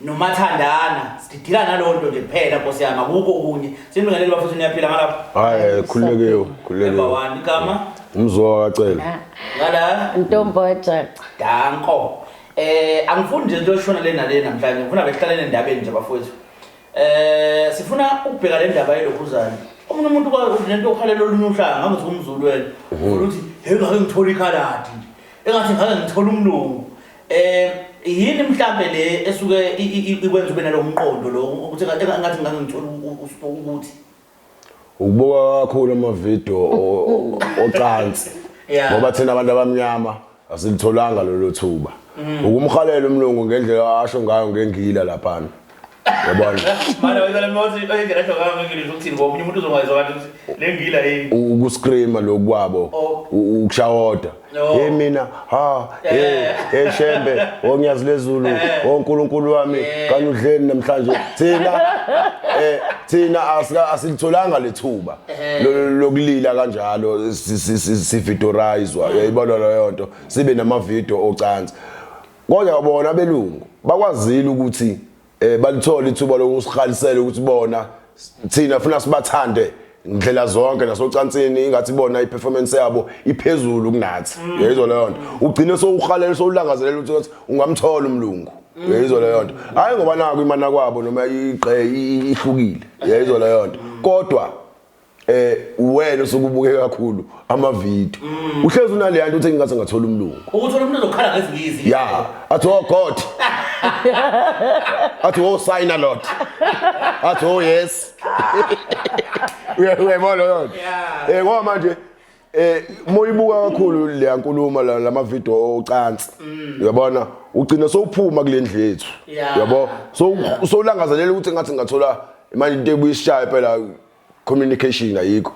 nomathandana sididila nalowo nto nje kuphela nkosi yami akukho okunye sinibingelele bafethu niyaphila ngalapho hayi khululekiwe khululekiwe number one igama umzwa wakacela ah. ngala ntomboja danko eh angifuni nje into eshona le nale namhlanje ngifuna behlalele endabeni nje bafowethu eh sifuna ukubheka le ndaba yelokhuzane omunye umuntu kwakunento okhalela olunye uhlanga ngabe uthi umzulu wena mhm. ukuthi hey ngake ngithola ikhaladi engathi ngake ngithola umlungu Eh yini mhlambe le esuke ikwenza ube nalomqondo lo ukuthi ngathi ngangithola ukuthi ukubuka kakhulu ama video ocansi ngoba thina abantu abamnyama asilitholanga lelo thuba mm. ukumhalela umlungu ngendlela asho ngayo ngengila lapha yabona Manje wena mawuthi oyingena hlo kama ngeke ukuthi ngomunye umuntu uzongayizwa kanti ukuthi lengila yini. ukuscreama lokwabo Oh. u- ukushawoda No. hey mina ha hey Eh. hey shembe onyazi lezulu oh nkulunkulu wami Eh. kanye udleni namhlanje thina eh thina asika- asilitholanga lethuba Eh. lo- lo- lokulila kanjalo si- si- si- sividorizwa uyayibona leyo nto sibe namavideo ocansi Kodwa bona belungu bakwazile ukuthi eh balithola ithuba lokusihalisela ukuthi bona thina funa sibathande ngidlela zonke nasocansini ingathi bona iperformance yabo iphezulu kunathi mm. yezwa leyo nto ugcine sowuhalela sowulangazelela ukuthi ungamthola umlungu mm. yezwa leyo nto hayi ngoba naku imana kwabo noma igqe ihlukile yezwa leyo nto mm. kodwa eh uwena usuke ubuke kakhulu ama video mm. uhlezi unaleya nto uthi ngingase ngathola umlungu ukuthola umuntu ozokhala ngezinye izinto ya athi oh god athi oh sign a lot athi oh yes uyayibona lona eh ngoba manje eh moyibuka kakhulu le nkulumo lama video ocansi mm. uyabona ugcina sowuphuma kule ndlu yethu yabo so solangazelela ukuthi ngathi ngathola imali into ebuyishaye phela communication ayikho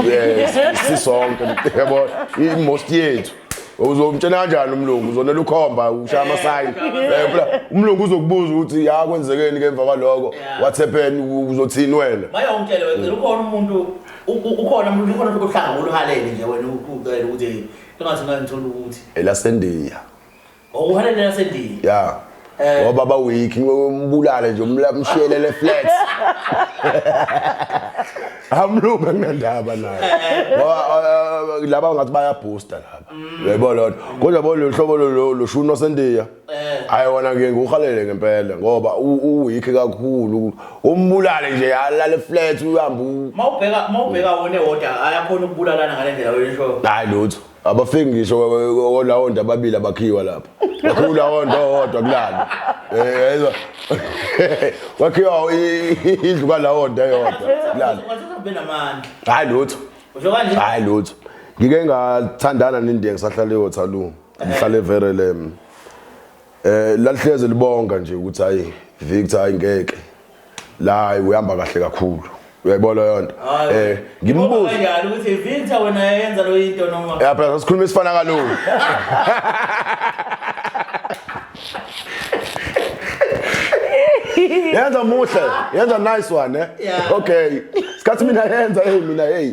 yes sisonke yabo i-most yethu uzomtshela kanjani umlungu uzonela ukhomba ushaya amasayini eh, umlungu uzokubuza ukuthi ya kwenzekeni ke emva kwaloko what happened uzothini wena bayawumtshela wena ukhona umuntu ukhona umuntu ukhona uhlanga oluhalele nje wena ucela ukuthi engathi ngangithola ukuthi elasendiya Ngokuhana nina sendini. Yeah. Eh. Ngoba ba week ngombulale nje umlamshelele flat. Amlunga ngendaba naye. Eh. Ngoba eh, laba ngathi baya booster laba. Mm. Yebo lona. Kodwa bo lohlobo lo lo shuno sendiya. Hayi wona ke ngohalele ngempela ngoba u week kakhulu. Umbulale nje alale flat uhamba. Mawubheka mawubheka wona ewoda ayakhona ukubulalana ngalendlela wena show. Hayi lutho. abafiki ngisho olawonda ababili abakhiwa lapha wakhiwa ulawonda owodwa kulana um wakhiwa indlu kalawonda eyodwa kulana hhayi lutho hhayi lutho ngike ngathandana nendiya ngisahlala eyothalungu ngihlale everelem um lalihleze libonga nje ukuthi hhayi victor hhayi ngeke la hayi uyihamba kahle kakhulu uyayibona leyo nto eh ngimbuza kanjani ukuthi Victor wena yenza lo into noma eh phela sikhuluma isifana kalulu yenza muhle yenza nice one eh okay sikhathi mina yenza hey mina hey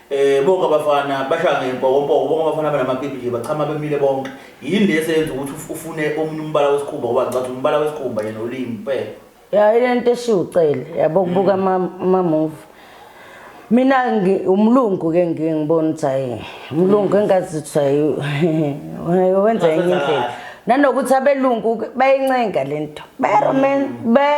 Eh bonke abafana bashaya ngempokompoko bonke abafana abanamapipi nje bachama bemile bonke yini le eseyenza ukuthi uf- ufune omunye umbala wesikhumba ngoba ngicathi umbala wesikhumba yena ulimi kuphela ya ile nto eshiwo ucele yabo kubuka ama- amamuvi mina ngi- umlungu ke ngiye ngibona ukuthi hayi umlungu engazi ukuthi hayi hayi, wenza enye Ngasenza indlela kahle. nanokuthi abelungu ke bayincenga le nto bayaromen ba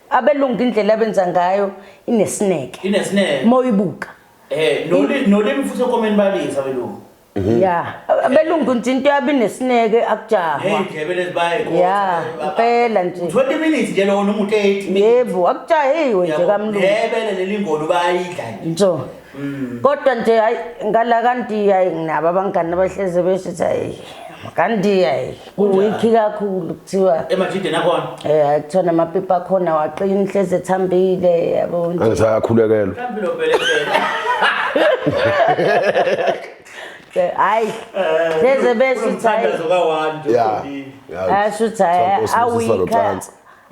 abelungu indlela abenza ngayo inesineke inesineke moyibuka eh nolimi nolimi futhi ekomeni balisa abelungu mhm. ya abelungu nje into yabi nesineke akujahwa neyindlebe lezibaye ya impela nje 20 minutes nje lona umuntu 8 yebo akujahiwe nje kamlungu yebele lelingolo bayidla nje mm. kodwa nje hayi ngala kanti hayi nginabo abangani abahleze besho ukuthi hayi kanti hayi kuwikhi kakhulu kuthiwa emajideni akhona um kuthiwa namapipi akhona waqina inhlezi ethambile yabo angisayakhulekelwa hayi hleze besho ukuthi hayi asho ukuthi hayi awikha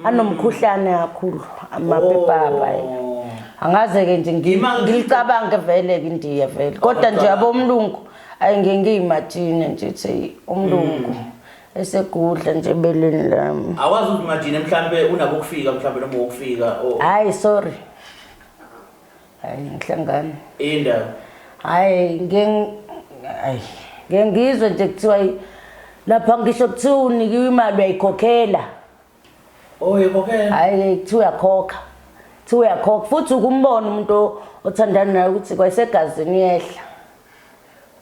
anomkhuhlane kakhulu amapepapa oh. angaze-ke nje ngilicabange vele-ke ndiye vele kodwa nje abomlungu ayi ngiye ngiyimajine nje ukuthi umlungu mm. esegudla nje ebeleni lami awazi ukuthi majine mhlawumbe unabo ukufika mhlawumbe noma wokufika hayi sorry hayi ngihlangane indaba hayi ngiye ngizwe nje kuthiwa lapha ngisho kuthiwa unikiwe imali uyayikhokhela Oye kokhela. Hayi kuthiwa uyakhokha. Kuthiwa uyakhokha futhi ukumbona umuntu othandana naye ukuthi kwayisegazini yehla.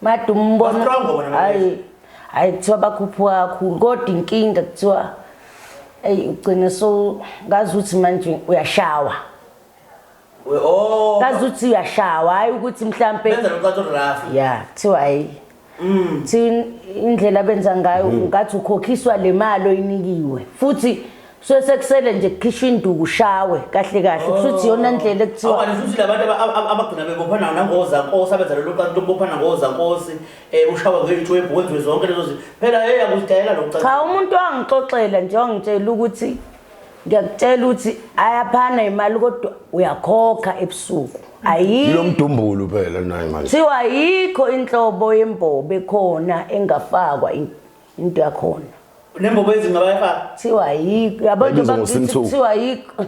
Made umbona. Hayi. Hayi kuthiwa bakhuphuka kakhulu kodwa inkinga kuthiwa eyi ugcine so ngazi ukuthi manje uyashawa. We- oh, kazi uthi uyashawa hhayi ukuthi mhlampe benza locatoraffi ya kuthiwa hayi Mm. kuthiwa in- indlela abenza ngayo Mm. ngathi ukhokhiswa le mali oyinikiwe futhi kusuke sekusele nje kukhishwa induku ushawe kahle kahle kusho ukuthi iyona ndlela ekuthiwa Oh. Awukanti futhi labantu aba- aba- abagcina bebophana nangozakosi abenza lelo kanti lokubophana ngozakosi um ushawa ngeitwebhu kwenziwe zonke lezo zinto phela hey akuzidayela lo cha umuntu wangixoxela nje wangitshela ukuthi ngiyakutshela ukuthi ayaphana imali kodwa uyakhokha ebusuku ayikho ilomdumbulu phela naye manje kuthiwa ayikho inhlobo yembobo ekhona engafakwa in- into yakhona nembobo ezima bayifaka kuthiwa ayikho yabo nje Bayibizwa bakithi ngoSinthuku. kuthiwa ayikho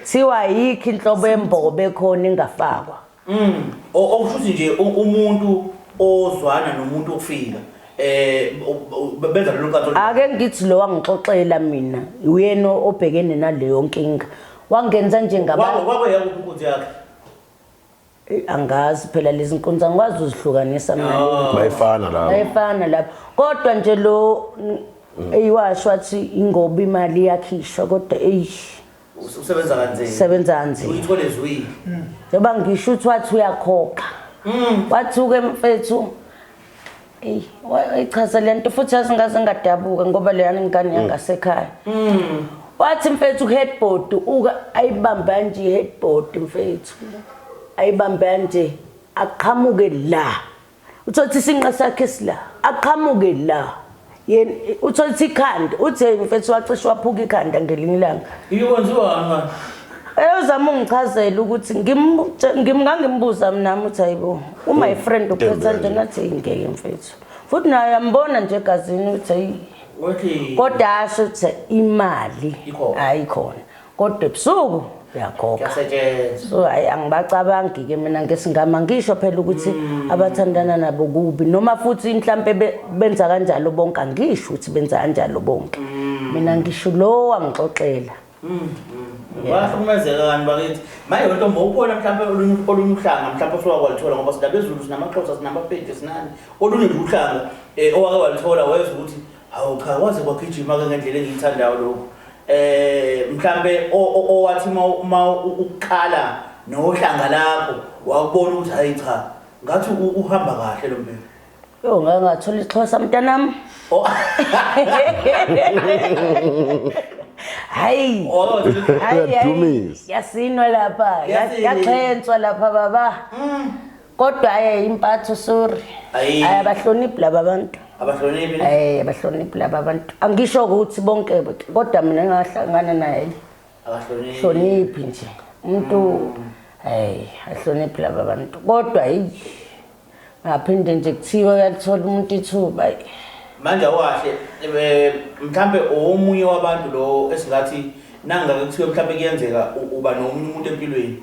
kuthiwa ayikho inhlobo yembobo ekhona engafakwa Umm okushuthi nje umuntu ozwana nomuntu okufika eh benza lolu kanto ake ngithi lo wangixoxela mina uyena obhekene naleyo nkinga wangenza njengabantu kwakwe yakho inkunzi yakhe eh, angazi phela lezi nkunzi angikwazi uzihlukanisa mina ah. bayifana lapho bayifana lapho kodwa nje lo eyiwasho wathi ingoba imali yakhishwa kodwa eyish usebenza kanzima sebenza kanzima uyithole zwini hmm. njengoba ngisho ukuthi wathi uyakhokha hmm. wathuke mfethu eyi wayichaza le nto futhi yazingaze ngadabuka ngoba leyani ngane hmm. yangasekhaya wathi mfethu uheadboard uka ayibambe kanje iheadboard mfethu ayibambe kanje aqhamuke la uthole ukuthi isinqa sakhe sila aqhamuke la yena uthole ukuthi ikhanda uthi hey mfethu wacishe waphuka ikhanda ngelinye ilanga ikwenziwani manje eyozama ungichazela ukuthi ngimngangimbuza mnami uthi hayibo uma ifriend ukhetha nje ngathi ngeke mfethu futhi naye yambona nje egazini uthi kodwa asho ukuthi imali ayikhona kodwa ebusuku uyakhokha so hayi angibacabangi ke mina ngesingama ngisho phela ukuthi mm. abathandana nabo kubi noma futhi mhlampe benza kanjalo bonke angisho ukuthi benza kanjalo bonke mm. mina ngisho lo wangixoxela mm, wahlukumezeka kani bakithi manje lento mba ukhona mhlawumbe olunye olunye uhlanga mhlawumbe osuwake walithola ngoba sidabezulu sinamaxhosa sinamapedi sinani olunye nje uhlanga um owake walithola wezwa ukuthi Hawu cha kwaze kwagijima ke ngendlela engiyithandayo lokho. Eh mhlambe owathi uma ukukhala nohlanga lakho wakubona ukuthi hayi cha ngathi uhamba kahle lo mbheki. Yo ngeke ngathola isixhosa mntanami. Oh. Hayi. Oh, hayi. Yasinwa lapha. Yaxhenswa lapha baba. Mm. kodwa aye impatho sorry Ayi. Ayi, abahloniphi laba bantu abahloniphi ne? Eh abahloniphi laba abantu angisho ukuthi bonke kodwa mina ngahlangana naye abahloniphi hloniphi nje umuntu eh ahloniphi laba bantu kodwa hey ngaphinde nje kuthiwa uyalithola umuntu ithuba hey. manje awahle eh, mhlambe omunye wabantu lo esingathi nangake kuthiwe mhlambe kuyenzeka u- uba nomunye umuntu empilweni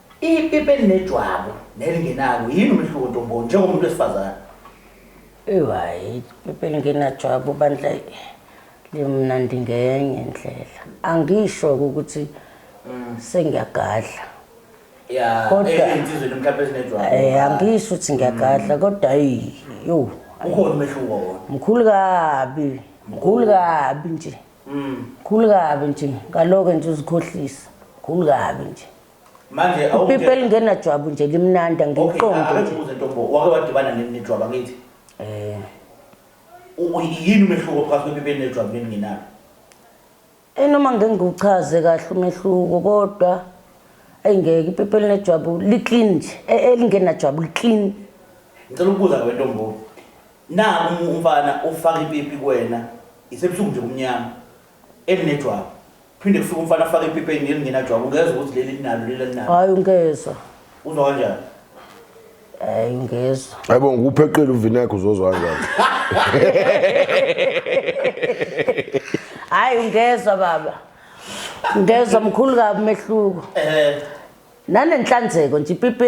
Ipipi elinejwabu nelingenalo yini umehluko ntomboni njengomuntu wesifazane? Ewu hhayi ipipi elingenajwabu bandla limnandi ngenye indlela. Angisho-ke ukuthi sengiyagadla. Ya, Kodwa- ezinsizweni mhlawumbe ezinejwabu. Eh angisho ukuthi ngiyagadla kodwa ayi yo Ukhona umehluko wona. mkhulu kabi mkhulu kabi nje Mm. mkhulu kabi nje ngaloke nje uzikhohlisa mkhulu kabi nje manje ipipi elingenajwabu nje limnandi angiqondi nje wake wadibana nejwabu angithi um yini umehluko phakathi kwepipi elinejwabu nelingenalo enoma eh, ngeke ngiwuchaze kahle umehluko kodwa eyi ngeke ipipi elinejwabu li-clean nje e, elingenajwabu li-clean ngicela ukubuza kabe ntombo na umfana ufaka ipipi kuwena isebusuku nje kumnyama Elinejwabu. Kuphinde kufike umfana afake ipipi elinye elingenajwabu ungezwa ukuthi leli linalo leli alinalo. Hayi ungezwa. Uzwa kanjani? Hayi ungezwa. Hayibo ngikupheqile uvinekho uzozwa kanjani? Hayi ungezwa baba. Ngezwa mkhulu kabi umehluko. Eh. nanenhlanzeko nje ipipi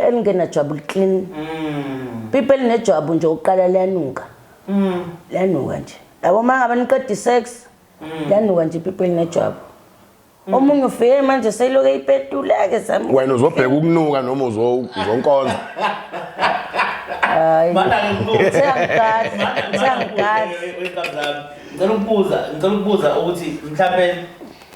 elingenajwabu liklini mm. pipi elinejwabu nje ukuqala liyanuka mm. liyanuka nje labo uma ngabe niqeda isex mm. liyanuka nje ipipi elinejwabu omunye ufike manje seyiloku eyipetuleke wena uzobheka ukunuka noma uzonkonza hayi ngicela ukubuza ukuthi mhlawumbe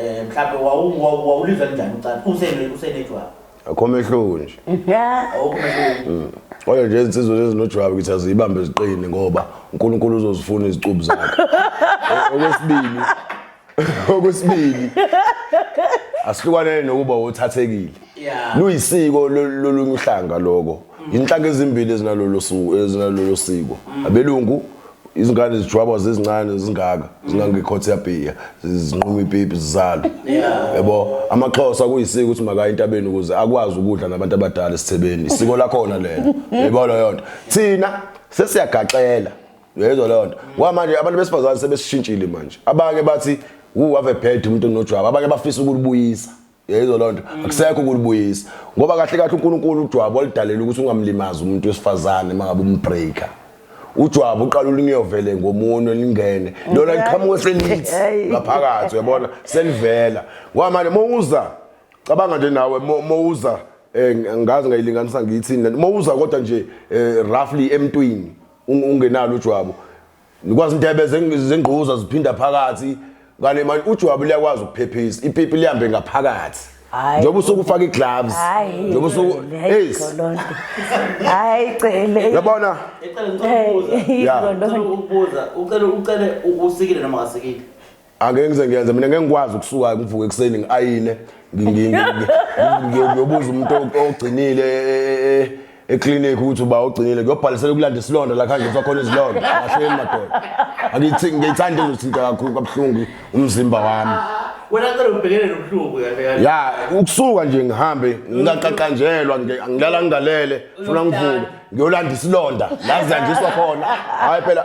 Eh mhlawumbe wawu- wawu- wawulizwa njani ucansi usene usenejwabu akho mehluko nje awukho mehluko kodwa nje izinsizwa lezi nojwabu ngithi aziyibambe ziqine ngoba unkulunkulu uzozifuna izicubu zakhe O- okwesibili okwesibili asihlukanele nokuba wothathekile ya luyisiko lo- lolunye uhlanga loko Inhlaka ezimbili ezinalolu suku ezinalolu siko. Abelungu izingane zijwabwa zezincane zingaka zingangekhothe yabhiya zinquma ipipi zizalo yebo amaxhosa kuyisiko ukuthi makaya intabeni ukuze akwazi ukudla nabantu abadala esithebeni isiko lakhona lelo yebo leyo nto thina sesiyagaxela uyezwa leyo nto ngoba manje abantu besifazane sebesishintshile manje abanye bathi wu have bad umuntu onojwaba abanye bafisa ukulibuyisa yeyizo loo nto mm. akusekho ukulibuyisa ngoba kahle kahle unkulunkulu ujwabu oludalela ukuthi ungamlimazi umuntu wesifazane uma ngabe umbreaker ujwabu uqala ulingiyovele ngomunwe lingene lona liqhamuke selithi ngaphakathi uyabona selivela ngoba manje mowuza cabanga nje nawe mowuza eh, ngazi ngayilinganisa ngiyithini lento mowuza kodwa nje eh, roughly emntwini ungenalo ujwabu nikwazi intebe zengquza ziphinda phakathi kane manje ujwabu liyakwazi ukuphephisa ipipi lihambe ngaphakathi njengoba usuke ufaka i-gloves njengoba usuke yes hayi cele yabona ecela ngicela ukubuza ucela ucele usikile noma ngasikile angeke ngize ngiyenze mina ngeke ngikwazi ukusuka ngivuke ekuseni ngiayine ngiyobuza umuntu ogcinile eclinic ukuthi uba ogcinile kuyobhalisela ukulanda isilonda la khanje sakhona izilonda kahleni madoda angithi ngiyithanda izothinta kakhulu kabuhlungu umzimba wami wena cela ubhekene nobuhlungu ya ukusuka nje ngihambe ngingaqaqanjelwa ngilala ngingalele funa ngivuke ngiyolanda isilonda la kuzanjiswa khona hayi phela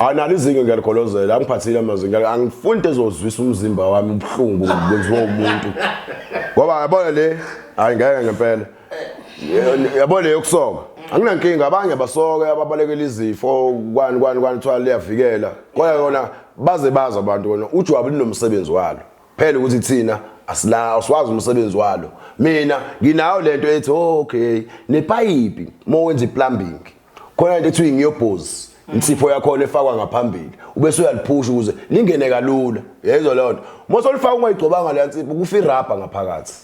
analo izinga ngiyalikolozela angiphathile amazwi angifuni into ezozwisa umzimba wami ubuhlungu kwenziwa umuntu ngoba yabona le hayi ngeke ngempela yabona le yokusoka anginankinga abanye basoke ababalekela izifo kwani kwani kwani kuthiwa liyavikela kodwa yona baze bazi abantu kona ujwabu linomsebenzi walo phela ukuthi thina asilawo siwazi umsebenzi walo mina nginayo lento ethi oh, okay nepayipi uma wenza iplumbing khona into ethiwa ngiyobhozi insipho yakhona efakwa ngaphambili ubese uyaliphusha ukuze lingene kalula yezwa leyo nto uma solifaka ungayigcobanga leya nsipho kufa irabha ngaphakathi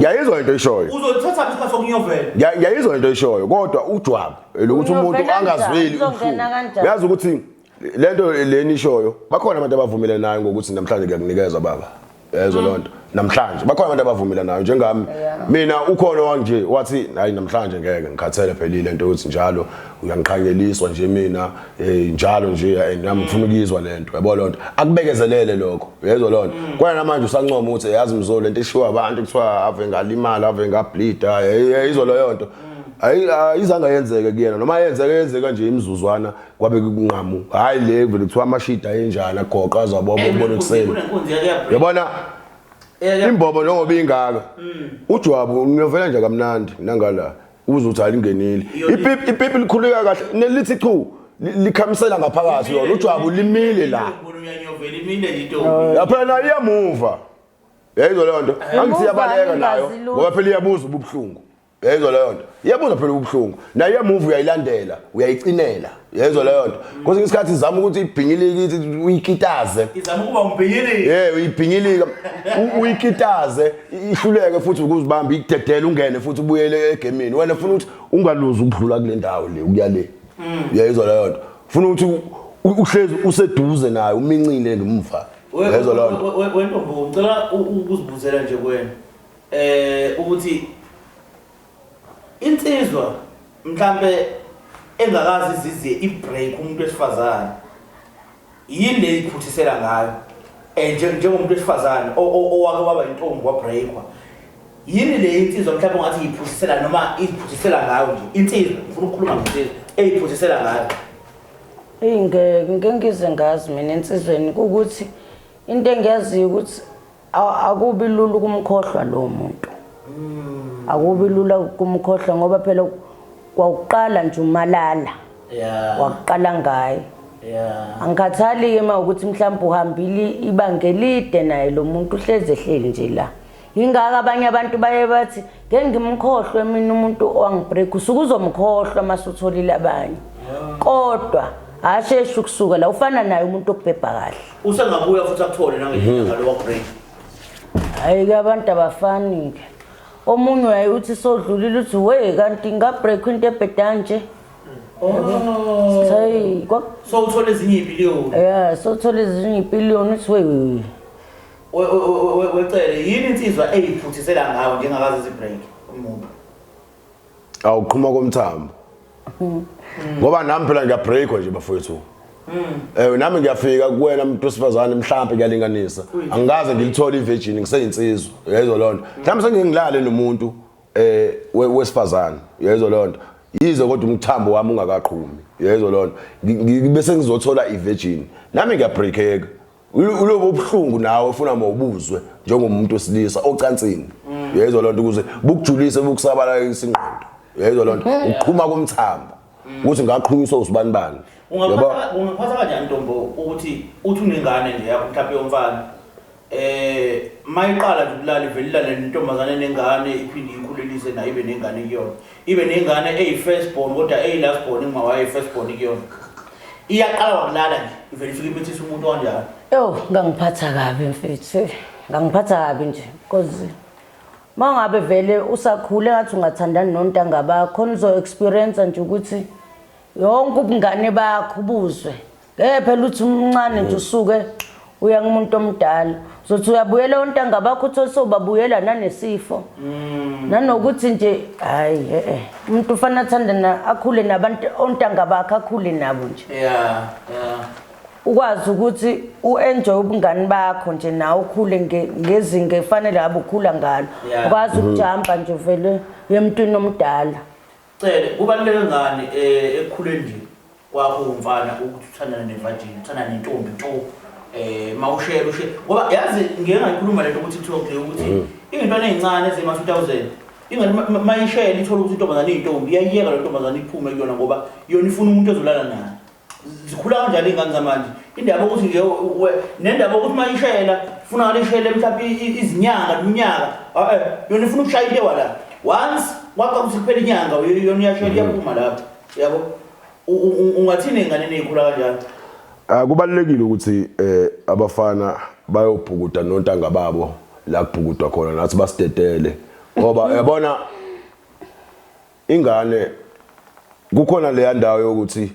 yayizwa into ishoyo uzolithatha isikhathi sokunyovela yayizwa into ishoyo kodwa ujwabu elokuthi umuntu angazweli ubuhlungu uyazi ukuthi lento leni ishoyo bakhona abantu abavumile nayo ngokuthi namhlanje kuyakunikeza baba yezwa loo nto namhlanje bakhona abantu abavumile nayo njengami mina ukhona wanje wathi hayi namhlanje ngeke ngikhathele phelile into yokuthi njalo uyangiqhanyeliswa nje mina Eh njalo nje and nami ngifuna ukuyizwa lento yabo lonto akubekezelele lokho uyezwa lonto mm. kwena namanje usancoma ukuthi yazi mzolo lento ishiwa abantu kuthiwa ave ngalimala ave ngableed ayizwa leyo nto mm. ayizange yenzeke kuyena noma yenzeke yenzeka nje imizuzwana kwabe kunqamu hayi le vele kuthiwa amashida enjani agoqa azabobo ubona kuseni yabona imbobo njengoba ingaka mm. ujwabu ngiyovela nje kamnandi nangala uze uthi alingenile ipipi ipipi likhuleka kahle nelithi chu likhamisela ngaphakathi yona ujwabu limile la lapha nayo iyamuva yayizwa leyo nto angithi iyabaleka nayo ngoba phela iyabuza ububuhlungu yayizwa leyo nto iyabuza phela ububuhlungu nayo iyamuva uyayilandela uyayicinela yezwa leyo nto kwesinye isikhathi izama ukuthi ibhinyilike uyikitaze izama ukuba umbhinyilike ye uyibhinyilike uyikitaze ihluleke futhi ukuzibamba ikudedele ungene futhi ubuyele egemini wena funa ukuthi ungaluzi ukudlula kule ndawo le ukuya le mm. yezwa leyo nto funa ukuthi uhlezi useduze naye umincile ngemva yezwa leyo nto wena ngicela ukuzibuzela nje kwena eh ukuthi Insizwa mhlambe engakazi iziziye ibreak umuntu wesifazane yini le iphuthisela ngayo eh nje njengomuntu wesifazane owake waba intombi wabreakwa yini le insizwa mhlawumbe ungathi iphuthisela noma iphuthisela ngayo nje insizwa ngifuna ukukhuluma ngensizwa eyiphuthisela ngayo eyi ngeke ngize ngazi mina ensizweni ukuthi into engiyaziyo ukuthi akubi lula ukumkhohlwa lowo muntu mm. akubi lula ukumkhohlwa ngoba phela kwawuqala nje umalala yeah. wakuqala ngaye yeah. angikhathali-ke ma ukuthi mhlawumbe uhambile ibanga elide naye lo muntu uhlezi ehleli nje la yingaka abanye abantu baye bathi ngeke ngimkhohlwe mina umuntu owangibreak usuke uzomkhohlwa uma sutholile abanye kodwa hasheshe ukusuka la ufana naye umuntu okubhebha kahle Usengabuya futhi akuthole nangenyanga lo wa-break. Hayi ke abantu abafani ke. Omunye uyaye uthi sodlulile uthi we kanti ngabreak into ebheda nje. Oh. Say kwa So uthole ezinye ibillion. yeah sothola ezinye ipiliyoni uthi we We- we- we- we- Wecele yini insizwa eyiphuthisela ngawe njengakazi izibreak umuntu. awuqhuma komthambo mm. ngoba nami phela ngiyabreakwa nje bafowethu mm. eh nami ngiyafika kuwena umuntu wesifazane mhlawumbe kuyalinganisa angikaze ngilithole ivirgin ngiseyinsizwa uyayizwa loo nto mhlawumbe sengingilale nomuntu eh wesifazane uyayizwa loo nto yize kodwa umthambo wami ungakaqhumi uyayizwa loo nto bese ngizothola ivirgin nami ngiyabreakeka ulobo obuhlungu nawe ufuna mawubuzwe njengomuntu osilisa ocansini mm. uyayizwa loo nto ukuze bukujulise bukusabala isingqondo uyayizwa loo nto mm. ukuqhuma komthambo mm. ukuthi ngaqhunyiswa usibani bani ungaphatha kanjani ntombo ukuthi uthi unengane nje yakho mhlawumpe yomfana eh mayiqala nje ukulala ivelelane nentombazane nengane iphinde ikhulelise nayo ibe nengane kuyona ibe nengane eyi-first born kodwa eyi-last born inguma wayo i-first born kuyona iyaqala wakulala nje ivele ifike imithisa umuntu wanjalo yo ngangiphatha kabi mfethu ngangiphatha kabi nje because ma ngabe vele usakhule ngathi ungathandani nontanga bakho nizo-experiensa nje ukuthi yonke ubungane bakho ubuzwe ngeke phela uthi umncane nje usuke uya kumuntu omdala uzothi uyabuyela ontanga bakho uthole sobabuyela nanesifo mm. nanokuthi nje hayi e-e umuntu ufanele athande na akhule nabantu ontanga bakhe akhule nabo nje yeah yeah ukwazi ukuthi uenjoy ubungani bakho nje nawe ukhule ngezinga efanele ngabe ukhula ngalo ukwazi ukujamba nje vele yemntwini omdala Cele, kubaluleke ngani e, ekukhuleni nje kwakho umfana ukuthi uthandane nevajini, uthandane nentombi nto um eh, mawushela ushe ngoba yazi ngike ngayikhuluma lento ukuthi kuthiwa kule ukuthi mm. iy'ntwana ey'ncane ezema-two thousand ingani mayishela ithole ukuthi intombazane iyintombi iyayiyeka le ntombazane iphume kuyona ngoba yona ifuna umuntu ezolala naye zikhula kanjani iy'ngane zamanje indaba yokuthi nje nendaba yokuthi uma ishayela funa ngale ishayele mhlawumbe izinyanga neminyaka eh, yona ifuna ukushaya into ewala once kwakha ukuthi kuphela inyanga yona iyashayela iyaphuma lapho yabo ungathini ey'nganeni ey'khula kanjalo ah, kubalulekile ukuthi um abafana bayobhukuda nontanga babo la kubhukudwa khona nathi basidedele ngoba yabona Ingane kukhona leya ndawo yokuthi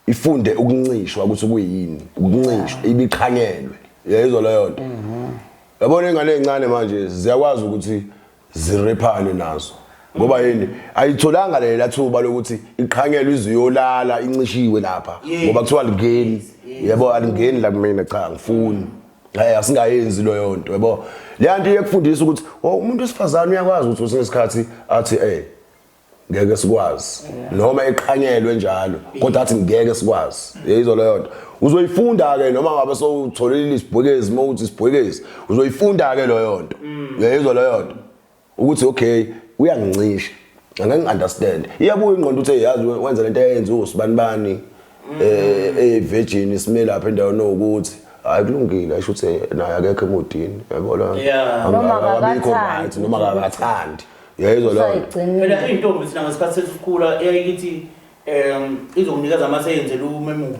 ifunde ukuncishwa ukuthi kuyini ukuncishwa ibiqhanyelwe yayizwa leyo nto yabona ingane ezincane manje ziyakwazi ukuthi zirephane nazo ngoba yini ayitholanga lela thuba lokuthi iqhanyelwe iziyolala incishiwe lapha ngoba kuthiwa lingeni yebo alingeni la kumina cha angifuni Eh asingayenzi lo yonto yabo. Leyanto iyekufundisa ukuthi oh, umuntu wesifazane uyakwazi ukuthi kwesinye isikhathi athi eh ngeke sikwazi noma eqhanyelwe njalo kodwa athi ngeke sikwazi yeyizo leyo nto uzoyifunda ke noma ngabe sowutholile isibhekezi uma uthi isibhekezi uzoyifunda ke leyo nto mm. yeyizo leyo nto ukuthi okay uyangincisha angeke understand iyabuya ingqondo uthe yazi wenza lento ayenza usibani bani eh eh virgin isime lapha endaweni ukuthi hayi kulungile asho ukuthi naye akekho emodini yabo la noma akakathandi noma akakathandi yayizwa lona phela intombi sina ngesikhathi sesikhula eyayikithi um izokunikeza amaseyenze lumemuka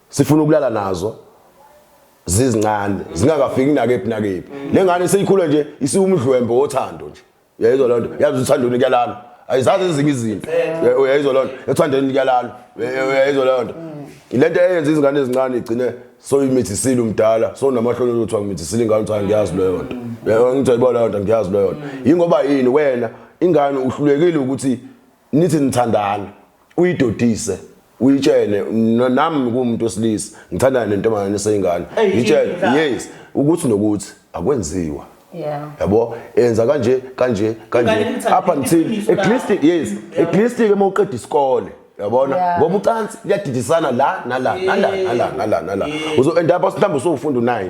sifuna ukulala nazo zizincane zingakafiki nakephi nakephi le ngane seyikhula nje isiwumdlwembe wothando nje uyayizwa loo nto yazi uthandweni kuyalala ayizazi ezinye izinto uyayizwa loo nto ethandweni kuyalala uyayizwa loo nto le nto eyenza izingane ezincane igcine soyimithisile umdala sonamahloni ozothi angimithisile ingane uthi angiyazi leyo nto ngithayiba leyo nto angiyazi leyo nto yingoba yini wena ingane uhlulekile ukuthi nithi nithandana uyidodise uyitshele no- nami kuwumuntu wesilisa ngithandana nentombazane eseyingane Eyi, ngitshele inhla. yes ukuthi nokuthi akwenziwa Yeah. yabo enza kanje kanje Ingane kanje imthanda, up until iqiniso at least lakho. yes at least ke uma uqeda isikole yabona Yeah. ngoba ucansi liyadidisana la nala nala nala nala nala uzo end up mhlawumbe usufunda u9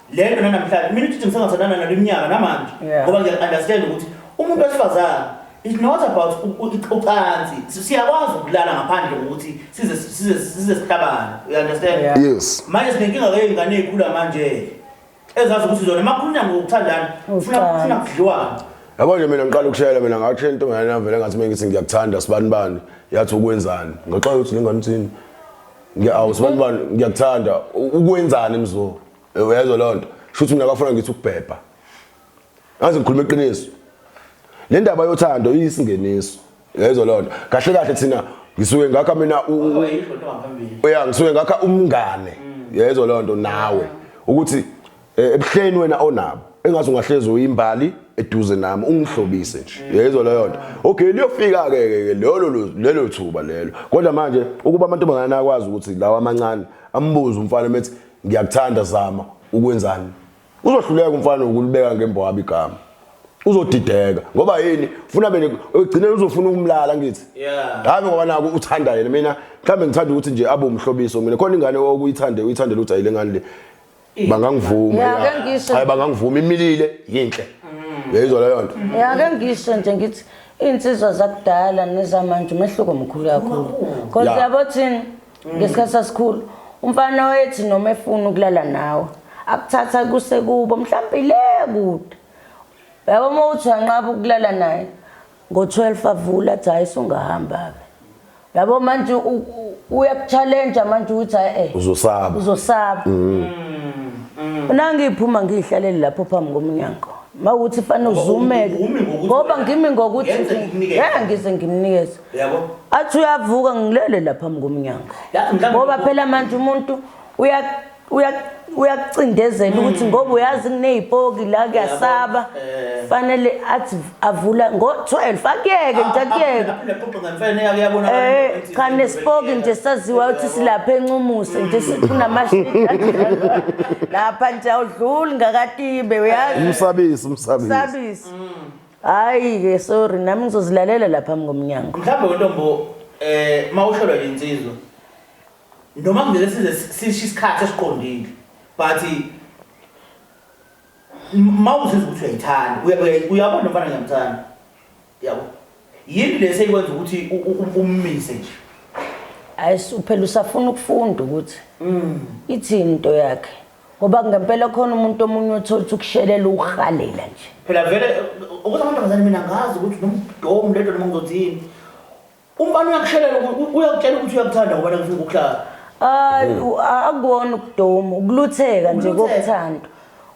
lento nanamhlanje mina ukuthi ngisangathandana nalo iminyaka namanje Yeah. ngoba ngiya-understand ukuthi umuntu wesifazane it's not about u- u- ucansi Si- siyakwazi ukulala ngaphandle kokuthi size size size sihlabane you understand Yeah. yes manje sinenkinga ke ingane ezikhula manje ezazi ukuthi zona makhulunywa ngokuthandana funa Ucansi. funa kudliwana yabo nje mina ngiqala ukushayela mina ngathi into ngane navele ngathi mina ngithi ngiyakuthanda sibani bani yathi ukwenzani ngaxola ukuthi lengane uthini Ngiyawu sibantu bani ngiyakuthanda ukwenzani mzo. Uyezwa lonto. Shuthi mina bafuna ngithi ukubhebha. Ngaze ngikhuluma iqiniso. Le ndaba yothando iyisingeniso. Uyezwa lonto. Kahle kahle thina ngisuke ngakha mina uya ngisuke ngakha umngane. Uyezwa lonto nawe ukuthi Eh, ebuhleni wena onabo engathi ungahlezi uyimbali eduze nami ungihlobise nje yezwa leyo nto okay liyofika ke ke lelo lelo thuba lelo kodwa manje ukuba amantombazane akwazi ukuthi lawa amancane ambuze umfana methi ngiyakuthanda zama ukwenzani uzohluleka umfana ukulibeka ngembwabi igama uzodideka ngoba yini ufuna bene ugcine uzofuna ukumlala ngithi yeah hayi ngoba naku uthanda yena mina mhlambe ngithanda ukuthi nje abe umhlobiso mina khona ingane okuyithande uyithandela ukuthi ayile ngane le bangangivuma Ya, ke ngisho. hayi bangangivuma imilile yinhle yayizwa leyo nto ya ke ngisho nje ngithi iy'nsizwa zakudala nezamanje umehluko mkhulu kakhulu cause Ya. yabo thina ngesikhathi sasikhulu umfana oyethi noma efuna ukulala nawe akuthatha kusekubo mhlawumbe ile kude yabo uma uthi wanqaba ukulala naye ngo-12 avula athi hayi sungahamba-ke yabo manje uyakuchallenge manje ukuthi hayi eh uzosaba uzosaba mm. mm. nangiphuma ngihlalele lapho phambi komnyango mawuthi fana uzumeke ngoba ngimi ngokuthi eh ngize ngimnikeze yabo athi uyavuka ngilele lapha phambi komnyango ngoba phela manje umuntu uya uyakucindezela mm. ukuthi ngoba uyazi kunezipoki la kuyasaba eh. fanele athi avula ngo12 akuyeke nje ah, akuyeke ah, eh cha nesipoki nje saziwa ukuthi silapha encumuse nje kunamashidi lapha nje awudluli ngakatibe uyazi umsabisi umsabisi umsabisi mm. hayi ke sorry nami ngizozilalela lapha ngomnyango mhlawumbe wentombo eh mawuhlolwa insizwa Noma ngeke size sisho isikhathi esiqondile but mawuzizwa ukuthi uyayithanda uyabona mfana ngiyamthanda yabo yini le seyikwenza ukuthi ummise nje hayi uphela usafuna ukufunda ukuthi mm. ithini into yakhe ngoba ngempela khona umuntu omunye othola ukushelela ukuhalela nje phela vele ukuthi amantombazane mina ngazi ukuthi nomdomu lento noma ngizothini Umfana uyakushelela ukuthi uyakutshela ukuthi uyakuthanda ngoba nakufuna ukuhlala. Ay u- a- akuwona ukudoma ukulutheka nje Ukulutheka. kokuthanda.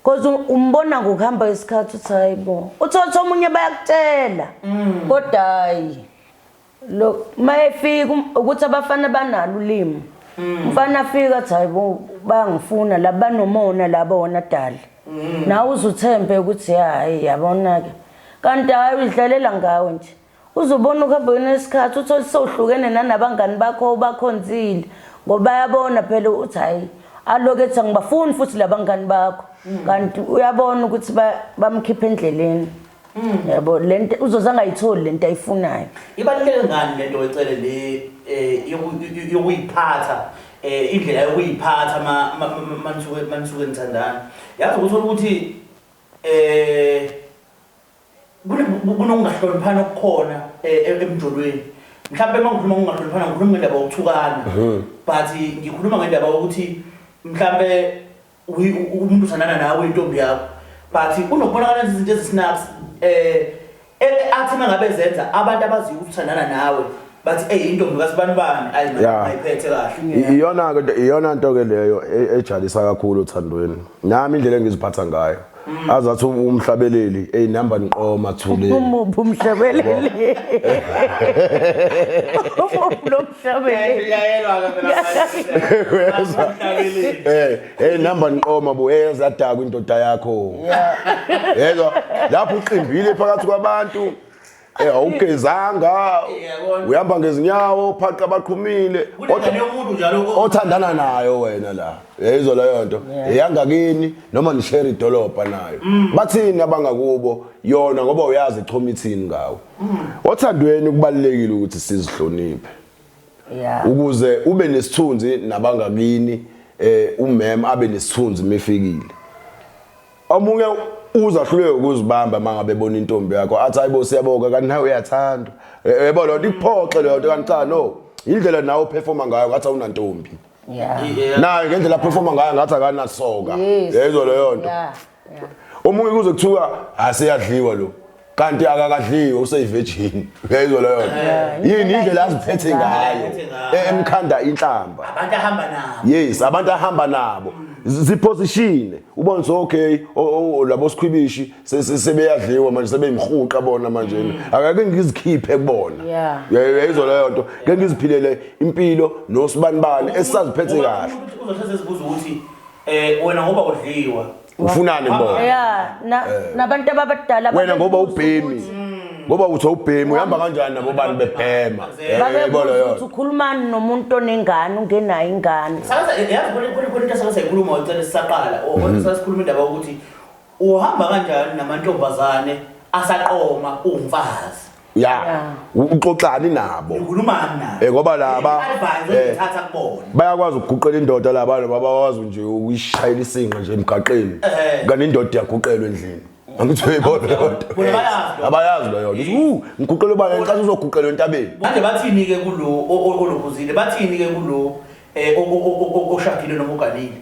Cause u- umbona ngokuhamba isikhathi uthi hayibo. Uthotha omunye bayakutshela. Kodwa hayi. Lo mayefika um- ukuthi abafana banalo ulimi. Umfana afika athi hayibo bayangifuna laba nomona laba wona dali. Nawe uzuthembe ukuthi hayi yabona ke. Kanti hayi uyidlalela ngawe nje. Uzobona ukuhambeni lwesikhathi uthole sewuhlukene nanabangani bakho obakhonzile ngoba bayabona phela ukuthi hhayi aloku ethi angibafuni futhi labangani bakho mm. kanti uyabona ukuthi bamkhipha endleleni mm. yabo lento uzoze angayitholi lento ayifunayo ibaluleke ngani lento wecele le eh, yokuyiphatha eh, indlela yokuyiphatha manisuke nithandana yazi ukuthola ukuthi um kunokungahloniphani okukhona eh, eh, emjolweni mhlawumbe uma ngikhuluma ngokungahloniphana ngikhuluma ngendaba yokuthukana mhm. but ngikhuluma ngendaba yokuthi mhlawumbe umuntu uthandana nawe intombi yakho but kunokubonakala izinto ezisinaks um eh, athi uma ngabe zenza abantu abaziyo ukuthi uthandana nawe bathi ey intombi kasibanibani ayi Yeah. ayiphethe kahle iyona ke iyona nto ke leyo e- ejalisa kakhulu othandweni nami indlela engiziphatha ngayo azathi umhlabeleli ey nihamba niqoma thule Umuphi umhlabeleli? Umuphi lo mhlabeleli? uyayelwa Uyezwa? Eh, hey nihamba niqoma bo hey yazadakwa indoda yakho yezwa lapho uqimbile phakathi kwabantu Eh awugezanga uyamba ngezinyawo phaqa abaqhumile kodwa umuntu njalo othandana nayo wena la yayizwa leyo nto eyangakini noma nishare idolobha nayo mm. bathini abangakubo yona ngoba uyazi ichoma ithini ngawo mm. othandweni kubalekile ukuthi sizihloniphe ukuze ube nesithunzi nabangakini eh umem abe nesithunzi mefikile Omunye uza hluleke ukuzibamba mangabe bona intombi yakho athi hayibo siyaboka kanti nawe uyathandwa. Eh, Yebo lo nto ikuphoxe leyo nto kanti cha no. Indlela nawe uperforma ngayo ngathi awunantombi. Yeah. Yeah. Naye ngendlela aperforma ngayo ngathi akanasoka. Yes. Yayizwa leyo nto. Yeah. Yeah. Omunye kuze kuthiwa asiyadliwa lo. kanti akakadliwe useyivirgin uyayizwa leyo nto yini indlela aziphethe ngayo e- emkhanda inhlamba abantu ahamba nabo yes abantu ahamba nabo Z- ziphosishine ubone so okay o- o- labo sikhwibishi se- se- sebeyadliwa manje sebeyimhuqa bona manje akake ngizikhiphe kubona Yeah. Uya- uyayizwa leyo nto ke ngiziphilele impilo nosibanibani esisaziphethe kahle uzohleze zibuza ukuthi um wena ngoba udliwa ufunani mbona yeah na eh. nabantu abadala wena ngoba ubhemi ngoba uthi ubhemi uhamba kanjani nabo bantu bebhema babebona eh, ukuthi ukhulumani nomuntu onengane ungenayo ingane sakaza yazi kule kule kule into sakaza inkulumo ngicela sisaqala mhm. sasikhuluma indaba ukuthi uhamba kanjani namantombazane asaqoma umfazi ya Yeah. uxoxani nabo Ukhulumani naye. Eh, ngoba la ba- Advise eh. oyithatha kubona. bayakwazi ukuguqela indoda laba noma bakwazi nje ukuyishayela isinqa nje emgaqeni Eh. kanti indoda iyaguqelwa endlini angithi uyibona Bona leyonto bayazi. abayazi leyo nto u ngiguqele ubani ngicathi uzoguqelwa entabeni Manje bathini ke kulo o- o- olobuzile? Bathini ke kulo eh o- o- o- o- oshadile noma uganile?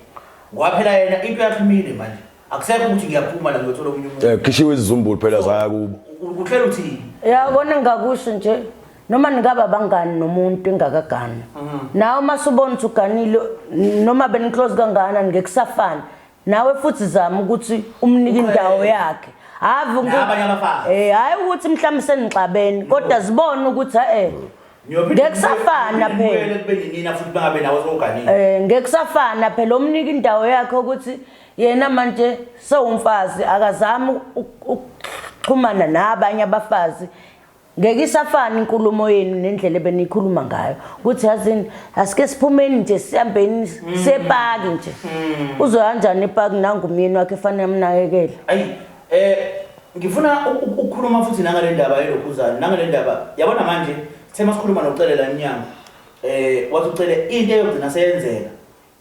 Kwaphela yena into yakhe imile manje. akusekho ukuthi ngiyaphuma la ngiyothola omunye umuntu Eh khishiwe izizumbulu phela zaya kubo. ukuhlela uthini yabona engakusho nje noma ningaba bangani nomuntu engakagani nawe uma subona ukuthi uganile n- noma beniclose kangana ngeke kusafana nawe futhi zama ukuthi umnike indawo yakhe hhayi uku- Nabanye abafazi. Eh, hhayi ukuthi mhlawumbe senixabene kodwa zibone ukuthi e-e Ngiyophinde Ngeke kusafana ngibuye- phela. ngibuyele ekubeni nina futhi bangabe nawe sowuganile um ngeke kusafana phela omnika indawo yakhe ukuthi yena manje sewumfazi akazami ukuxhumana nabanye abafazi ngeke isafana inkulumo yenu nendlela ebeniyikhuluma ngayo ukuthi yazini asike siphumeni nje sihambeni mm. sepaki nje mm. uzoyanjani epaki nangumyeni wakhe efanele amnakekele ayi eh ngifuna ukukhuluma futhi nangale ndaba yelokhuzana nangale ndaba yabona manje sithe masikhuluma nocelela inyanga eh wathi ucele into eyogcina seyenzeka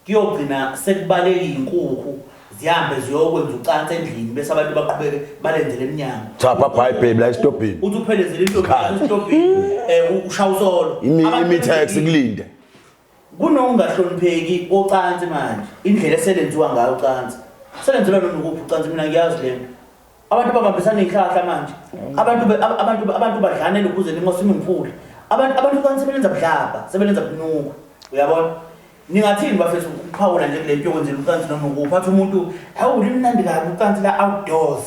Kuyogcina sekubalekile inkukhu zihambe ziyokwenza ucansi endlini bese abantu baqhubeke balenzele emnyango. Cha papa hayi baby la esitobhini. Uthi uphelezele into Isikhathi. esitobhini eh ushaya usolo. Imi Abantu imi taxi benzekile. kulinde. Kunokungahlonipheki kocansi manje indlela eselenziwa ngayo ucansi. Selenzelwa noma ukuphi ucansi mina ngiyazi lento. Abantu babambisana izihlahla manje. Abantu be- ab- abantu be- abantu badlanela ukuze nimosa imimfula. Abantu abantu ucansi sebelenza budlabha, sebelenza bunuku. Uyabona? Ningathini bafethu ukuphawula nje kule nto yokwenzela ucansi noma ukuphatha umuntu awu limnandi kabi ucansi la outdoors.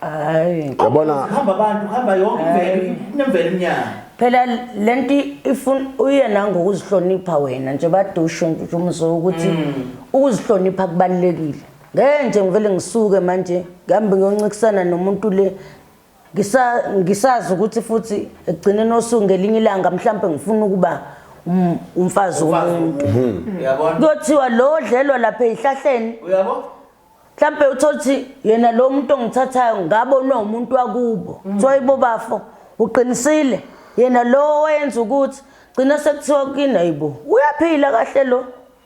Hayi. Yabona Kuhamba abantu, kuhamba yonke imvelo, kunemvelo emnyama. Phela lento ifuna uyena ngokuzihlonipha wena nje badusho nje umzwa ukuthi ukuzihlonipha kubalekile. Ngeke nje ngivele ngisuke manje ngihambe ngiyoncikisana nomuntu le ngisazi ukuthi futhi ekugcineni osuku ngelinye ilanga mhlawumbe ngifuna ukuba um, umfazi womuntu hmm. kuyothiwa lo odlelwa lapha ezihlahleni mhlawumbe utholuthi yena lo muntu ongithathayo ngabonwe umuntu wakubo hmm. kuthiwa yibo bafo uqinisile yena lo owenza ukuthi gcina sekuthiwa kini ayibo uyaphila kahle lo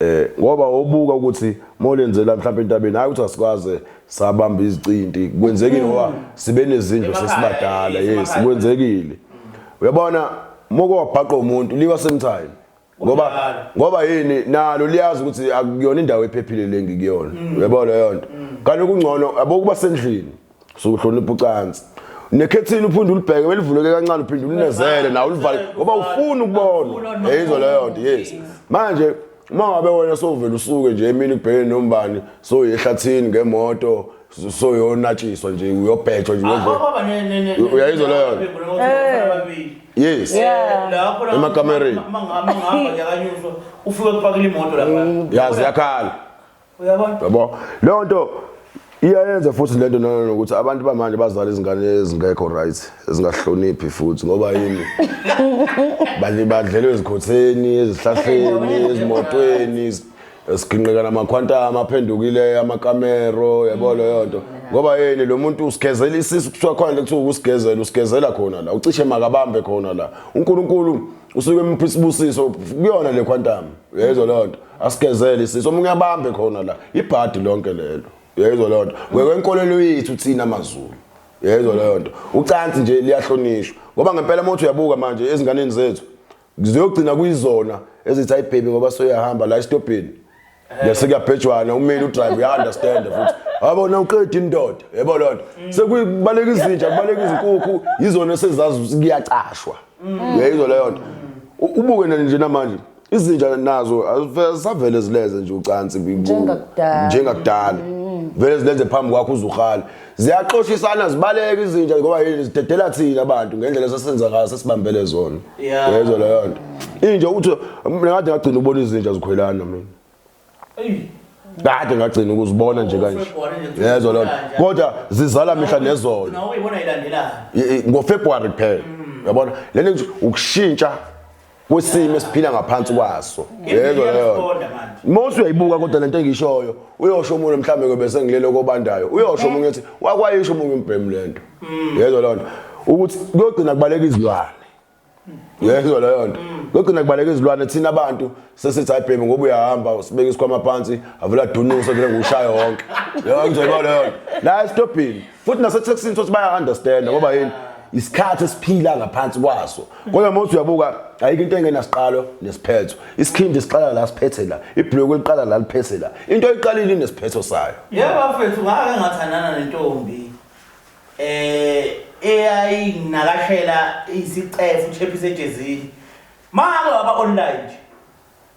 Eh ngoba wobuka ukuthi molenzela mhlawumbe entabeni hayi ukuthi asikaze sabamba izicinti kwenzekile mm. ngoba sibe nezindlu sesibadala yes kwenzekile uyabona moko wabhaqa umuntu liwa same time ngoba ngoba yini nalo liyazi ukuthi akuyona indawo ephephile lengikuyona mm. uyabona leyo nto mm. kanti kungcono abokuba sendlini sukuhlonipha ucansi nekhethini uphinde ulibheke belivuleke kancane uphinde ulinezele nawe ulivale ngoba ufuna ukubona yeyizwa leyo nto yes manje uma ngabe wena sowuvele usuke nje emini kubhekene nombani soye ehlathini ngemoto soyonatshiswa nje uyobhethwa nje uyayizwa leyo yes emakamereni ufike kupakile imoto lapha yazi yakhala uyabona yabo leyo nto iyayenza futhi lento nana nokuthi abantu bamanje bazala izingane ezingekho right ezingahloniphi futhi ngoba yini bali badlelwe ezikhotheni ezihlahleni ezimotweni esiginqeka namakhwantama aphendukile amakamero yabo leyo nto ngoba yini lo muntu usigezela isisu kuthiwa khona le kuthiwa ukusigezela usigezela khona la ucishe makabambe khona la uNkulunkulu usuke emupha isibusiso kuyona le quantum uyayizwa leyo nto asigezele isiso omunye abambe khona la ibhadi lonke lelo uyayizwa leyo nto ngekwenkolelo yethu thina mazulu uyayizwa leyo nto ucansi nje liyahlonishwa ngoba ngempela uma uthi uyabuka manje ezinganeni zethu ziyogcina kuyizona ezithi ayibhebi ngoba soyahamba la esitobheni Yase kuyabhejwana umeli udrive uya understand futhi. Yabo na uqeda indoda. Yebo lonto. Sekubaleka izinja, kubaleka izinkukhu, yizona sezazi kuyacashwa. Uyayizo leyo nto. Ubuke nje namanje izinja nazo azisavele zileze nje ucansi njengakudala. Njengakudala. Vele zilenze phambi kwakho uzuhala. ziyaxoshisana zibaleka izinja ngoba yini zidedela thina abantu ngendlela esesenza ngayo sesibambele zona Yeah. yezwa leyo nto inja ukuthi mina kade ngagcina ubona izinja zikhwelana mina kade ngagcina ukuzibona nje kanje February nje yezwa leyo nto ukuzibona kodwa zizala mihla nezolo Ugcina uyibona ilandelana. Y- y- ngofebruary kuphela yabona lento nje ukushintsha kwesimo esiphila ngaphansi kwaso yebo yebo Mose uyayibuka kodwa lento engishoyo uyosho umuntu mhlambe ngobe sengilele kobandayo uyosho umuntu ethi wakwayisho umuntu umbhemu lento mm. yezwa lonto ukuthi kuyogcina kubaleka izilwane yezwa leyo nto kugcina kubaleka izilwane thina abantu sesithi ayibhemi ngoba uyahamba usibeka isikhwama phansi avula dunuso vele ngushaya wonke leyo ngizoyiba leyo nto la esitobhini futhi nasetheksini sothi baya-understanda ngoba yini isikhathi esiphila ngaphansi kwaso kodwa uma uthi uyabuka ayikho into engenasiqalo nesiphetho isikhindi siqala la siphethe la ibhulokwe liqala la liphethe la into oyiqalile inesiphetho sayo yebo mfethu ngake ngathandana nentombi eh eyayinakashela isicefe uchephise ejezini manje waba online nje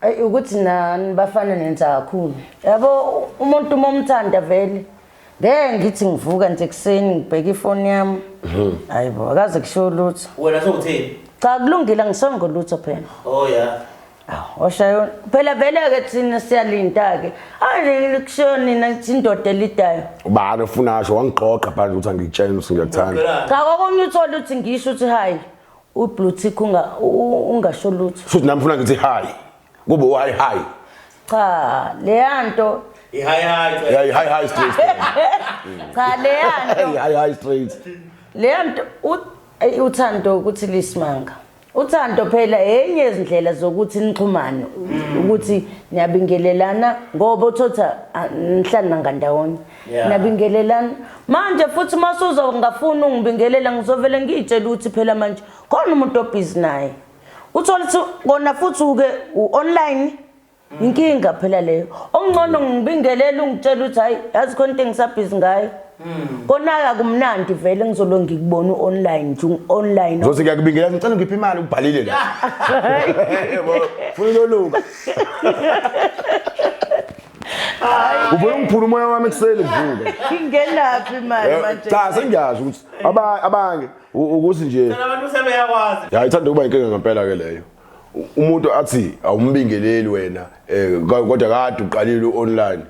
Ayi ukuthi nani bafana nenza kakhulu. Yabo umuntu uma umthanda vele ngeke ngithi ngivuka nje ekuseni ngibheke ifoni yami. Mhm. Hayibo akaze kusho lutho. Wena sewuthini? Cha kulungile ngisongo lutho phela. Oh yeah. Awu oshayona. Phela vele ke thina siyalinda ke. Hayi kusho nina ukuthi indoda elidayo. Ubani ofuna asho wangigqogqa phanje ukuthi angitshene ukuthi ngiyakuthanda. Cha kokunye uthole ukuthi ngisho ukuthi hayi. U blue tick unga ungasho lutho. Futhi nami funa ngithi hi. Kube u hi hi. Cha, leyanto I hi hi. Yeah, hi hi straight. Cha, leyanto. Hi hi straight. Leyanto uthando ukuthi lisimanga. Uthando phela enye izindlela zokuthi nixhumane ukuthi niyabingelelana ngoba uthotha nihlala ngandawonye. Yeah. nabingelelana manje futhi uma suzongafuni ungibingelela ngizovele ngiyitshela ukuthi phela manje khona umuntu obhizi naye uthole ukuthi kona futhi uke u-online inkinga phela leyo okungcono ngibingelele ungitshela ukuthi hhayi yazi khona into engisabhizi ngayo kona-ke akumnandi vele ngizolo ngikubona u-online nje u-online zothi ngiyakubingelela ngicela ngiphi imali ubhalile la Yebo, funa uloluka Uvele ungiphula umoya wami ekuseni ngivuke. Ngingenaphi imali Eh, manje? Cha sengiyazi ukuthi aba- abanye u- ukuthi nje Phela abantu sebeyakwazi. ya ithanda ukuba inkinga ngempela ke leyo. U- Umuntu athi awumbingeleli wena eh, ka- kodwa kade uqalile online.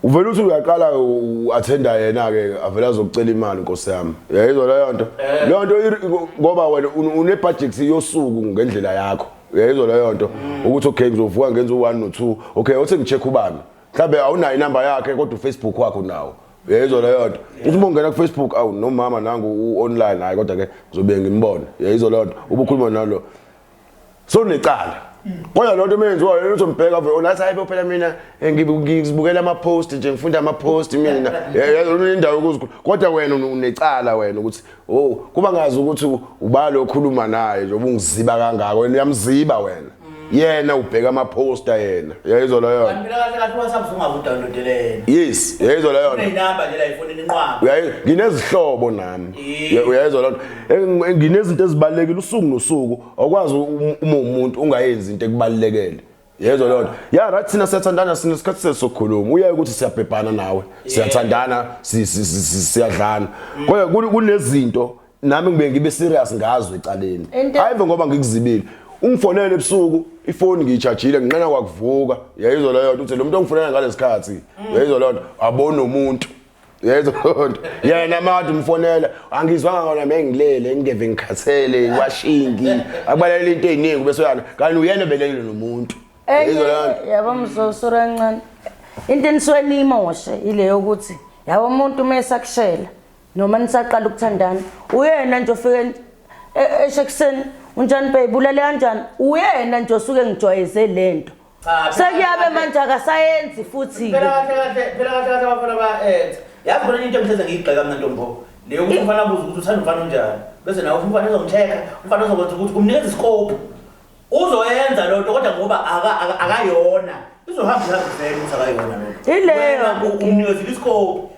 Uvele uthi uyaqala u- u- attenda yena ke avela azokucela imali Nkosi yami. Yayizwa leyo nto. Leyo nto iri- ngoba wena un- une budget yosuku ngendlela yakho. uyayizwa leyo nto ukuthi okay ngizovuka ngenza u-one no-two okay othi ngi-check ubani mhlawumbe awunayo inamba yakhe kodwa ufacebook wakho nawo uyayizwa leyo nto uthi uma ungena kufacebook awu nomama nangu u-online hhayi kodwa-ke ngizobe ngimbona uyayizwa leyo nto ubukhuluma nalo so necala kodwa loo nto meyenziwayo lento mbheka vele onathi hayi phela mina eh, ngizibukela ama-post nje ngifunda ama-post mina indawo yokuzikhulu kodwa wena unecala wena ukuthi Oh, kuba ngazi ukuthi ubani okhuluma naye nje ubungiziba kangaka wena uyamziba wena. Yena ubheka ama poster yena. Yayizwa leyo. Kanti mina kahle kahle WhatsApp ungakudownloadela yena. Yes, yayizwa leyo. Unenamba nje la ifonini inqwaba. Uyayi nginezihlobo nami. Ye- Uyayizwa leyo. Eng- eng- Nginezinto ezibalekile usuku nosuku awukwazi um- uma umuntu ungayenzi into ekubalekele. yezwa leyo nto ya right thina siyathandana sinesikhathi sethu sokukhuluma uyaye ukuthi siyabhebhana nawe siyathandana si- si- si- si- siyadlana kodwa kun- kunezinto nami ngibe ngibe serious ngazo ecaleni Into- hayive ngoba ngikuzibile ungifonele ebusuku ifoni ngiyitshajile nginqena kwakuvuka yayizwa leyo nto uthi lo muntu ongifonela ngalesi khathi yayizwa leyo nto abonomuntu yezonto yena made umfonela angizwanga kona mengilele ngingeve ngikhathele washingi akubalekela into eziningi bese yana kanti uyena belekile nomuntu yabo mzosura kancane into enisuke niyimoshe ile yokuthi yabo umuntu uma esakushela noma nisaqala ukuthandana uyena nje ofike e-, eshe ekuseni unjani babe ulale kanjani uyena nje osuke ngijwayeze le nto sekuyabe manje akasayenzi futhi phela kahle kahle phela kahle kahle abafana bayenza yazi khona into engihleze ngiyigxeka mina ntombo leyo ukuthi umfana abuze ukuthi uthanda umfana onjani bese nawe umfana uzomtheka umfana uzokwenza ukuthi kumnikeza isikopu uzoyenza loo nto kodwa ngoba akayona izohamba ihambe vele ukuthi akayona loo nto ileyo umnikezile isikopu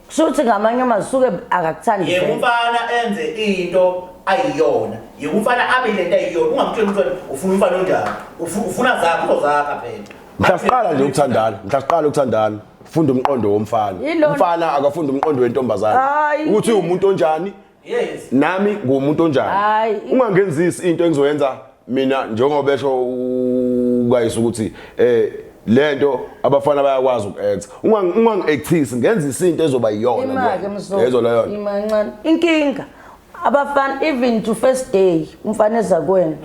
kusho ukuthi ngamanye amazwi suke akakuthandi yebo umfana enze into ayiyona yebo umfana abe le nto ayiyona ungamtsheli umfana ufuna umfana onjani ufuna zakho uzozakha phela mhla siqala nje ukuthandana mhla siqala ukuthandana funda umqondo womfana umfana akafunda umqondo wentombazane ukuthi umuntu onjani yes nami ngumuntu onjani Hayi. ungangenzisi into engizoyenza mina njengoba esho ukayisa ukuthi eh lento abafana bayakwazi ukuyenza Ungangi- ungangi-actisi ngenza isinto ezoba iyona imake kuyona. mzola Yezwa leyo nto. imancane inkinga abafana even to first day umfana eza kuwena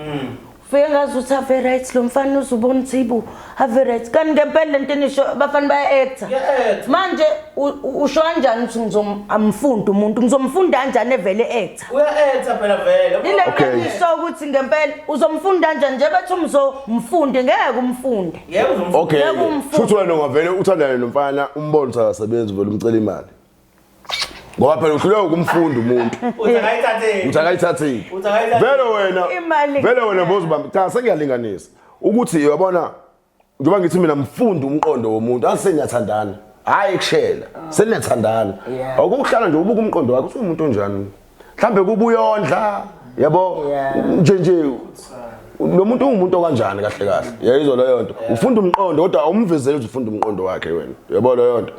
Fike ngazi ukuthi ave right lo mfana uzubona ukuthi ibu ave right. Kanti ngempela lento enisho abafana baya actor. Ngiya-actor. Manje u- u- usho kanjani ukuthi ngizomfunda umuntu? Ngizomfunda kanjani evele actor? Uya-etha phela vele. Lento Okay. enisho ukuthi ngempela uzomfunda kanjani nje bethi umzomfunde ngeke umfunde. Yebo uzomfunda. okay Yebo, umfo- shuthi wena ungavele uthandane nomfana umbone ukuthi akasebenzi uvele umcela imali ngoba phela uhluleka ukumfunda umuntu uthi akayithatheli uthi akayithatheli Uthi akayithatheli. vele wena Imali vele wena kuphela. bozibamba cha sengiyalinganisa ukuthi yabona njengoba ngithi mina mfunda umqondo womuntu aseniyathandana hhayi kushela seniyathandana Yeah. awukuhlala nje ubuka umqondo wakhe uthi umuntu onjani mhlambe kubuyondla yabo nje nje lo muntu ungumuntu okanjani kahle kahle yayizwa leyo nto ufunda umqondo kodwa awumvezeli ukuthi ufunda umqondo wakhe wena yabo leyo nto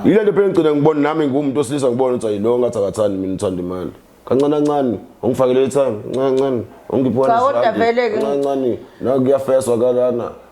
yile nto phela ngigcina ngibona nami ngumuntu osilisa ngibona ukuthi ayilo ngathi akathandi mina uthanda imali kancane kancane ungifakele ithanga kancane kancane ungiphi wena kancane kancane nakuyafeswa kalana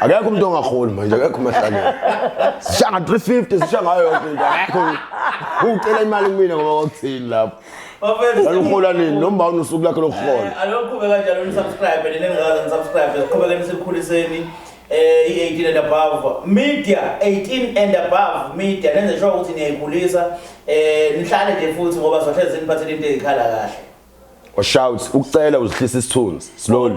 akekho umuntu ongaholi manje akekho umahlangene sisha nga 350 sisha ngayo yonke into akekho ucela imali kumina ngoba kwakuthini lapho Laluhola nini noma unosuku lakhe lokuhola eh, Aloqhube kanjalo ni subscribe nini ngikaze ni subscribe siqhubekeni sikhuliseni eh i18 and above media 18 and above media nenze sure ukuthi niyayikhulisa eh nihlale nje futhi ngoba sohlezi niphathele into ezikhala kahle Washout ukucela uzihlisa isithunzi slowly